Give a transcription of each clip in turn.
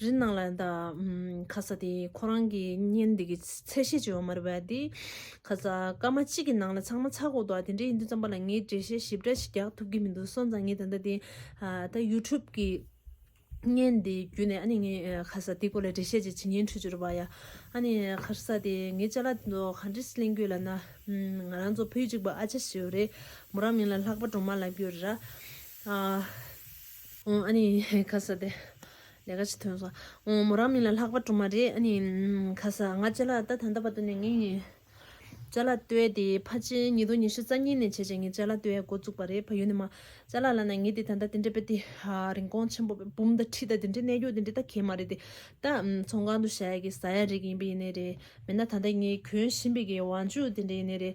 རི་ནང་ལ་དག་ཁ་ས་དེ་ཁོ་རང་གི་བརྙན་འདི་གི་ཚད་ཤེས་བྱེད་པ་མ་རེད་བ་དེ། ཁ་ས་སྐར་མ་གཅིག་གི་ནང་ལ་ཚང་མ་ཚགས་གོ་འདུག་དེ་འདྲ་ཡིན་དུས་བརྩམས་པ་ལ་ངས་འགྲེལ་བཤད་ཞིབ་ཕྲ་ཞིག་རྒྱག་ཐུབ་ཀྱི་མི་འདུག་སོང་ཙང་ངས་ད་ལྟ་དེ། ད YouTube གི་བརྙན་འདི་བརྒྱུད་ནས་ཨ་ནི་ངས་ཁ་ས་དེ་སྐོར་ལ་འགྲེལ་བཤད་ཅིག་བྱེད་ཉན་ཁྲོད་འཇུག་རོགས་པ་ཡ། ཨ་ནི་ཁ་ས་དེ་ངའི་ཅ་ལག་ཚོ་ག་འདྲི་སི་གླེང་གྱུར་ལ་ན། ང་རང་ཚོ་བུ་གཅིག་པ་ཨ་ཅེ་ཞེས་བ་རེད་མོ་རང་མིང་ལ་ལྷག་པ་འབྲོང་མ་ལགས་གྱུར་ར། ཨ་ནི། ཁ་ས་དེ། ལས་ཀ་ཅིག་ཐོན་སོང། མོ་རང་མིན་ལ་ལྷག་པ་གྲུབ་མ་རེད་ཨ་ནི། ཁ་ས། ང་ལྕེ་ལག་ལྟ་ད་ལྟ་བར་དུ་ནས་ངས། ལྕེ་ལག་ལྟོས་ཏེ་ཕ་ཆེ་ཉིས་སྟོང་ཉི་ཤུ་རྩ་གཉིས་ནས་བྱས་བྱས་ངས་ལྕེ་ལག་ལྟོས་འགོ་བཙུགས་པ་རེད་ཕ་ཡུལ་ནས་མ། ལྕེ་ལག་ལ་ན་ངས་དེ་ད་ལྟ་དེ་འདྲ་བེད་དེ། རིན་གོང་ཆེན་པོ་བེད་འབུམ་ད་ཁྲི་ད་དེ་འདྲའི་གནས་རྒྱུ་དེ་འདྲའི་ད་གལ་མ་རེད་དེ། ད། ཚོང་ཁང་དུ་བཞག་ཡ་གི་ཟ་ཡ་རེད་ཀྱི་ཡིན་པས་ཡིན་ནས་རེད། མེད་ན་ད་ལྟ་ངས་གྱོན་བཞིན་པའི་གི་བང་མཇུག་དེ་འདྲའི་ཡིན་ནས་རེད།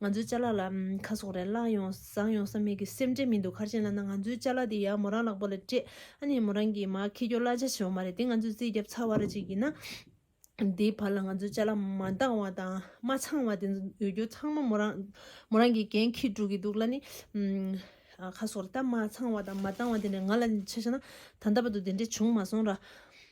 ང་ཚོའི་ལྕེ་ལག་ལ་ཁ་ཟུག་རེ་བླངས་ཡོང་བཟང་ཡོང་ས་མེད་གི་སེམས་ཁྲལ་མི་འདུག་ཁར་ཆེན་ལ་ན་ང་ཚོའི་ལྕེ་ལག་དེ་ཡར་མོ་རང་ལག་པ་ལ་སྤྲད་ཨ་ནི་མོ་རང་གིས་མ་ཁེ་སྐྱོ་གླ་ཆ་བྱེད་བ་མ་རེད་དེ་ང་ཚོས་རྩིས་རྒྱབ་ཚར་བ་ར་ཅིག་ཡིན་ན། དེའི་བར་ལ་ང་ཚོའི་ལྕེ་ལག་མ་འདང་བ་དང་མ་ཚང་བ་དེ་ཚོ་ཡོད་རྒྱུ་ཚང་མ་མོ་རང་མོ་རང་གིས་འགན་ཁིར་འགྲོ་གི་འདུག་གླ་ནི། ཁ་ཟུག་རེ་ད་མ་ཚང་བ་དང་མ་འདང་བ་དེ་འདྲ་ང་ལ་ཆ་བྱས་ན་ད་ལྟ་བར་དུ་དེ་འདྲ་བྱུང་མ་སོང་ར།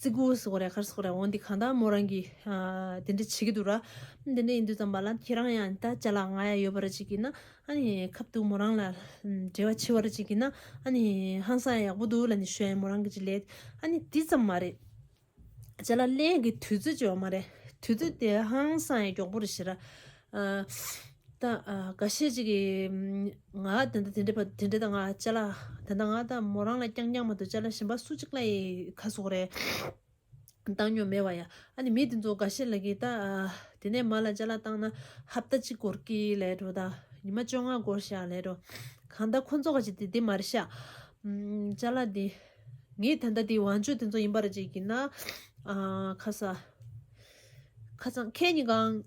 ཙི་གུ་སོགས་རས་དཀར་སོགས་རེད་འོ་འདི་གང་དག་མོ་རང་གིས་དེ་འདྲ་བྱེད་ཀྱི་འདུག་ར། དེ་འདྲ་ཡིན་དུས་ཙམ་པ་ལ་ཁྱེད་རང་ཡང་ད་བྱ་ལ་ང་ཡང་ཡོད་པ་རེད་ཅིག་གིས་ན་ཨ་ནི་ཁབ་འདུག་མོ་རང་ལ་འབྲེལ་བ་ཆེ་བ་རེད་ཅིག་གིས་ན་ཨ་ནི་ཧང་སང་ཡག་པོ་འདུག་ལ་ནི་ཞོན་མོ་རང་གིས་ཅི་ལས་ཨ་ནི་དེ་ཙམ་མ་རེད། བྱ་ལ་གླེང་གི་དུས་ཚོད་ཅིག་བ་མ་རེད་དུས་ཚོད་དེ་ཧང་སང་ཡག་པོ་རེད་ཤི་ར། ག་ཤེད་ཅིག་གིས། ང་དེ་འདྲ་དེ་འདྲ་དེ་འདྲ་དང་ང་ཅལ་ལ་དེ་འདྲ་ང་ད་མོ་རང་ལ་རྐྱང་རྐྱང་མ་འདུག་ཅལ་ལ་ཞེན་པ་སུ་གཅིག་ལ་ཡི་ཁ་ཟུག་རེད། བཏང་མྱོང་མེད་བ་ཡ། ཨ་ནི་མི་དེ་ཚོ་ག་ཤེད་ལ་གིས་ད། དེ་ནས་མ་ལ་ཅལ་ལ་བཏང་ན་ཧབ་ད་གཅིག་འགོར་གི་ལེད་དོ་ད། ཉི་མ་བཅོ་ལྔ་འགོར་བཞག་ལེད་དོ། གང་ད་ཁོ་ཚོ་ག་ཅིག་དེ་དེ་མ་རེད་ཤག། ཅལ་ལ་དེ། ངས་དེ་འདྲ་དེ་བང་ཆོས་དེ་ཚོ་ཡིན་པ་རེད་ཅིག་གིས་ན། ཁ་སང། ཁ་སང་ཁྱེད་གཉིས་གང།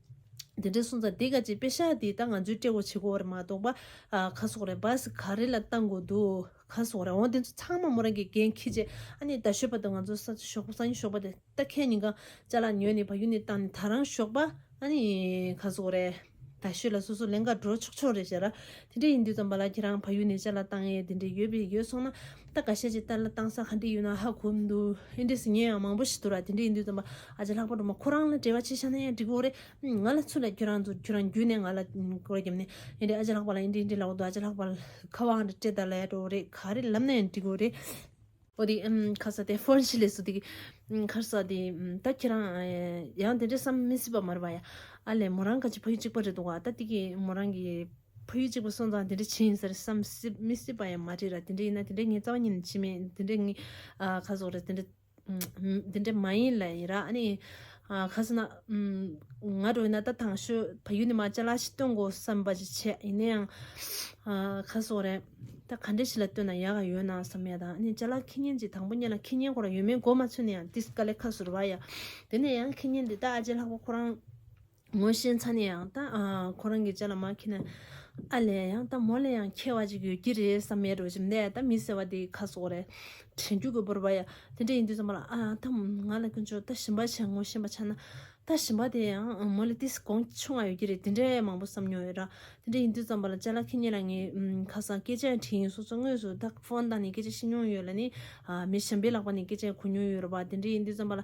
དེ་འདྲའི་སོང་ཙང་དེ་ག་ཅིག་དཔེ་ཤག་དེའི་ད་ང་ཚོའི་སྤྲེ་བོ་བྱེད་གོ་བར་མ་གཏོགས་པ་ཁ་སོག་རེད་བ་ཟེ་ག་རེ་ལ་བཏང་གོ་འདུག་ཁ་སོག་རེད་འོང་དེ་ཚོ་ཚང་མ་མོ་རང་གི་འགན་ཁྱི་རྗེས་ཨ་ནེ་ད་ཤོད་པ་དང་ང་ཚོ་ས་ཆ་ཞོགས་པ་ས་ཉིན་ཞོགས་པ་དེ་ད་ཁྱེད་གཉིས་ཀ་ཅག་ལ་ཉོས་ནས་བ་ཡུ་ནས་བཏང་ནས་ད་རང་ཞོགས་པ་ཨ་ནེ་ཁ་སོག་རེད་ད་ཤོད་ལ་སོ་སོ་ལན་འགའ་འགྲོ་ཆོག་ཆོག་རེད་བྱས་ར་དེ་འདྲ་ཡིན་དུས་ཙམ་པ་ལ་ཁྱེད་རང་བ་ཡུ་ནས་ཅག་ལ་བཏང་ཡས་དེ་འདྲ་ཡོད་པས་ཡོད་སོང་ན་ད་ག་བཤད་ཅིག་ཏཱ་ལ་བཏང་ས་ག་འདྲི་ཡོད་ན་ཧ་གོ་མི་འདུག་ཨེ་འདྲི་སི་ངས་ཡང་མང་པོ་ཞིག་དོར་བ་དེ་འདྲི་ཡིན་དུས་དམ་པ་ཨ་ཅག་ལྷག་པ་འགྲོ་མ་ཁོ་རང་ལ་འབྲེལ་བ་བྱེད་ཤ་ན་ཡང་འགྲིག་གོ་རེ་ང་ལ་ཚུར་ལ་ཁྱོད་རང་ཚོ་ཁྱོད་རང་བརྒྱུད་ནས་ང་ལ་སྐོར་བརྒྱབ་ནས་ཨེ་འདྲི་ཨ་ཅག་ལྷག་པ་ལ་ཨེ་འདྲི་ཨེ་འདྲི་ལབ་གོ་འདུག་ཨ་ཅག་ལྷག་པ་ཁ་བ་འང་དྲ་སྤྲེལ་ད་ལ་ཡ་འགྲོ་རེ་ག་རེ་ལབ་ན་ཡང་འགྲིག་གོ་རེ། ཨོ་དེ་ཁ་ས་དེ་ཧྥོན་ཤི་ལེ་སུ་དེ་ཁར་ས་དེ་ད་ཁྱེད་རང་ཡང་དེ་འདྲ་བསམ་མི་སྲིད་པ་མ་རེད་པ་ཡ། ཨ་ལས་མོ་རང་ག་ཅིག་ཕ་ཡུལ་གཅིག་པ་རེད་འདུག་ག་ད་དེ་གའི་མོ་རང་གི། ཕ་ཡུལ་གཅིག་པ་སོང་ཙང་དེ་འདྲ་བྱེད་ཡིན་ཟེར་བསམ་སྲིད་མི་སྲིད་པ་ཡང་མ་རེད་ར་དེ་འདྲ་ཡིན་ན་དེ་འདྲ་ངའི་རྩ་བ་ཉིད་ནས་བྱེད་མི་ཡིན་དེ་འདྲ་ངའི་ཁ་ཟུག་རེད་དེ་འདྲ་དེ་འདྲ་མ་ཡིན་ལ་ཡིན་ར་ཨ་ནི་ཁ་ཟུག་ན་ང་འགྲོ་ཡིན་ན་ད་ཐང་ཤོད་ཕ་ཡུལ་ནས་མ་བཅའ་ལ་ཤི་སྟོན་དགོ་བསམ་པ་ཅིག་བྱེད་ཡིན་ན་ཡང་ཁ་ཟུག་རེད་ད་ག་འདྲ་ཞིག་ལ་སྟོན་ན་ཡག་ག་ཡོད་ན་བསམ་ཡ་ད་ཨ་ནི་བཅའ་ལ་ཁེ་ཉེན་ཅིག་དང་པོ་གཉེར་ན་ཁེ་ཉེན་ཁོ་རང་ཡོད་མེད་མགོ་མ་ཚོས་ན་ཡང་ཏིས་ཀ་ལས་ཁ་ཟུག་རེད་བ་ཡ་དེ་ནས་ཡང་ཁེ་ཉེན་འདི་ད་ཨ་ཅེ་ལྷག་པ་ཁོ་རང་ངོ་ཤེས་ཚ་ནས་ཡང་ད་ཁོ་རང་གི་ལྕེ་ལ་མ་ཁེལ་ན་ཨ་ལས་ཡང་ད་མོ་ལས་ཡང་ཁེལ་བ་ཅིག་ཡོད་ཀྱི་རེད་བསམ་མེད་རོ་བྱེད་འདས་ད་མི་ཟེར་བ་དེ་ཁ་སོག་རེད་དྲན་རྒྱུ་དགོས་པོར་བ་ཡ་དེ་འདྲ་ཡིན་དུས་ས་མོ་ལ་ཨ་ད་ང་ལ་ཀུན་ཆོག་ད་ཞིམ་པ་ཆག་ངོ་ཤེས་པ་ཆག་ན་ད་ཞིམ་པ་དེ་ཡང་མོ་ལས་ཏིས་གོང་ཆུ་ང་ཡོད་ཀྱི་རེད་དེ་འདྲ་མང་པོ་བསམ་མྱོང་ཡོད་ར་དེ་འདྲ་ཡིན་དུས་བསམ་པ་ལ་ལྕེ་ལ་ཁེལ་ཉེ་ལ་ངས་ཁ་སང་སྐད་ཆ་དྲིས་ཡིན་སོ་སོ་དངོས་སུ་ད་ཕོན་བཏང་ནས་སྐད་ཆ་བཤད་མྱོང་ཡོད་ལ་ནི་མི་གཞན་པའི་ལག་པ་ནས་སྐད་ཆ་གོ་མྱོང་ཡོད་ར་བ་དེ་འདྲ་ཡིན་དུས་བསམ་པ་ལ།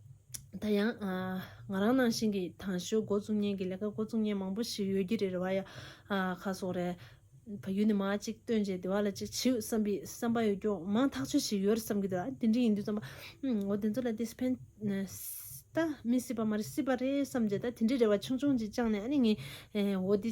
ད་ཡང་ང་རང་ནང་བཞིན་གྱི་དང་ཞོའི་འགོ་བཙུགས་ཉེན་གྱི་ལས་ཀ་འགོ་བཙུགས་ཉེན་མང་པོ་ཞིག་ཡོད་ཀྱི་རེད་རེ་བ་ཡ་ཁ་སོགས་རེད། ཕ་ཡུལ་ནས་མ་གཅིག་བཏོན་རྗེས་བདེ་བ་ལ་ཅིག་བྱེད་འོས་བསམ་པའི་བསམ་པ་ཡོད་སྐྱོང་མང་ཐག་ཆོད་ཞིག་ཡོད་རེད་བསམ་གྱི་འདུག་དེ་འདྲའི་ཡིན་དུས་བསམ་པ། འོ་དེ་ཚོ་ལ་དེས་ཕན་ད་མི་སྲིད་པ་མ་རེད་སྲིད་པ་རེད་བསམ་རྗེས་ད་དེ་འདྲའི་རེ་བ་ཆུང་ཆུང་ཅིག་བཅངས་ནས་ཨ་ནི་ངའི་འོ་དེ།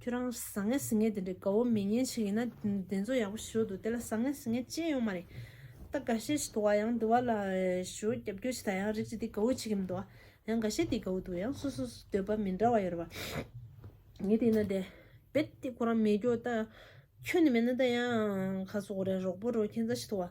ཁྱོད་རང་བཟང་ངན་ཟིང་ངན་དེ་འདྲའི་དགའ་བོ་མི་ཉན་ཞིག་ཡིན་ན་དེ་ཚོ་ཡག་པོ་ཞུ་འདུག་དེ་ལ་བཟང་ངན་ཟིང་ངན་ཅི་ཡང་ཡོད་མ་རེད། ད་འགའ་ཤས་ཤིག་འདུག་བ་ཡང་འདི་བ་ལ་ཞུ་རྒྱབ་སྐྱོར་བྱེད་ད་ཡང་རིགས་ཅིག་དེ་དགའ་བོ་བྱེད་ཀྱི་མི་འདུག་བ་ཡང་འགའ་ཤས་དེ་དགའ་བོ་འདུག་ཡང་སོ་སོས་འདོད་པ་མི་འདྲ་བ་ཡོད་རེད་བ། ངས་དེ་ཡིན་ན་དེ་རྦད་དེ་ཁོ་རང་མི་སྐྱོ་ད་ཡང་ཁྱོད་ནི་མེད་ན་ད་ཡང་ཁ་སོ་གོ་རེ་རོག་པོ་རོག་ཁྱེད་འཛའ་ཤིག་འདུག་བ།